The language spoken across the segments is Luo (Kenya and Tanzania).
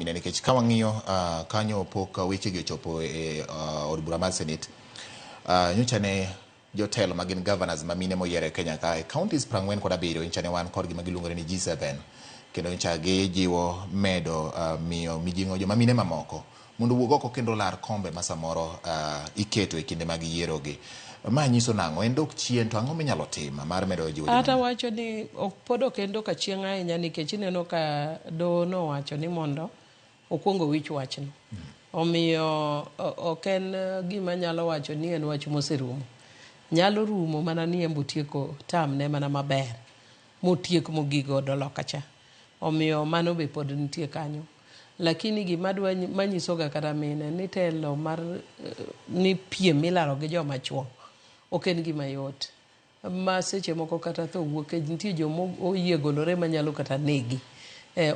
Ine nikech ka wang'iyo ah, kanyo pok ah, wechegi ochopo e ah, od bura mar senate ah, nyocha ne jotelo ma gin governors ma mine moyier e kenya ka e counties prang'wen kod abiriyo nyocha ne wan kodgi ma giluongore ni g7 kendo nyocha gijiwo medo ah, miyo mijing'o joma mine mamoko mondo owuog oko kendo lar kombe ma samoro ah, iketo e kinde mag yierogi Ma nyiso nang'o? En dok chien, to ang'o minyalo tim mar medo jiwo joma Ata ni- wacho ni ok pod ok en doka chieng' ahinya nikech ineno ka doho nowacho ni mondo okwong owich wachno. Omiyo o- ok en eh, gima nyalo wacho ni en wach moserumo. Nyalo rumo mana ni embo tieko tamne mana maber motiek mogik godo loka cha. Omiyo mano be pod nitie kanyo. Lakini gima adwa manyisoga kata mine ni telo mar ni piem ilaro gi joma chuo ok en gima yot ma seche moko kata tho wuok e nitie joma oyie golore manyalo kata negi.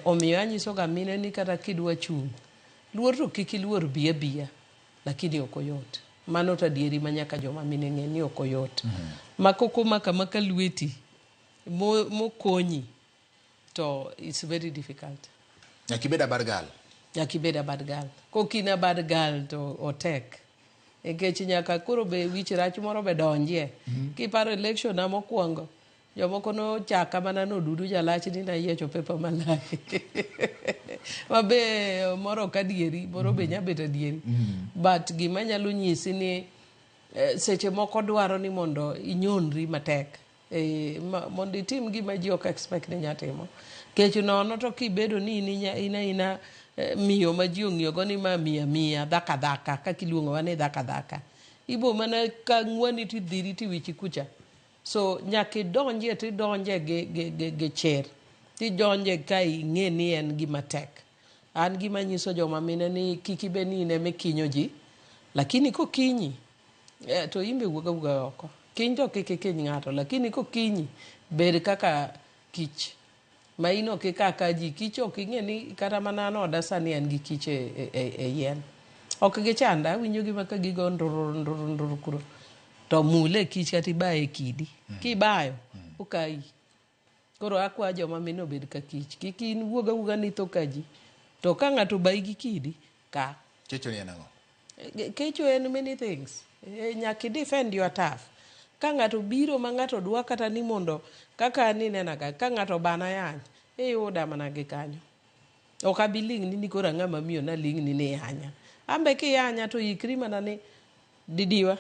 Omiyo anyisoga mine ni kata kidwa chung' luor to kik iluor bi abiya lakini ok oyot. Mano to adieri ma nyaka joma mine ng'e ni ok oyot. Ma kok omako amaka lweti mokonyi. to it's very difficult. Nyaka ibed a bad girl. Nyaka ibed a bad girl. Kok in a bad girl to otek. Nikech e nyaka koro be wich rach moro be donjie. Mm -hmm. Kiparo election na mokwongo, jomoko nochaka mana nodudu jalach ni nayiecho pepa malach ma be moro ok adieri moro be nya bet adieri mm. but gima nyalo nyisi ni eh, seche moko dwaro ni mondo inyonri matek Eh, mondo itim gima ji ok expect ni nya timo kech nono to kibedo ni in ina ina eh, miyo ma ji ong'iyogo ni ma miya miya dhaka dhaka kaka iluongowa ni dhaka dhaka ibo mana ka ng'wani to idhiri to iwichi kucha so nyaka idonjie to idonje gi, gi, gi, gi chir tidonje ka ing'e ni en gima tek An gima anyiso joma mine ni kik ibed ni in ema ikinyo ji, lakini kokinyi eh, to in be wuog awuga oko. Kiny to kik ikiny ng'ato, lakini kokinyi bed kaka kich ma in ok ika ka ji. Kich ok ing'e ni kata mana an oda sani an gi kich e, e, e, e yien. Ok gichanda, awinjogi ma ka gigo ndurur ndurur ndurur kuro. To mule kich kata ibaye e kidi. Kibayo, okayi. Koro akwa joma mine obed ka kich. Kik in iwuog awuoga ni itho ka ji. To ka ng'ato obayi gi kidi, ka. Kecho ni en ang'o? Kecho en many things. Nyaka i defend your turf. Ka ng'ato obiro ma ng'ato dwa kata ni mondo kaka an inena ga ka ng'ato obana yany, iyuda mana gi kanyo. Ok abi ling'ni ni koro ang'ama miyo naling'ni ni iyanya. An be kiyanya to ikri mana ni didiwa.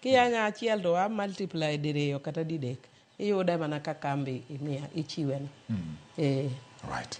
Kiyanya achiel to a multiply diriyo kata didek. Iyude mana ka kambi imiya ichiweno. Mm. Eh. Right.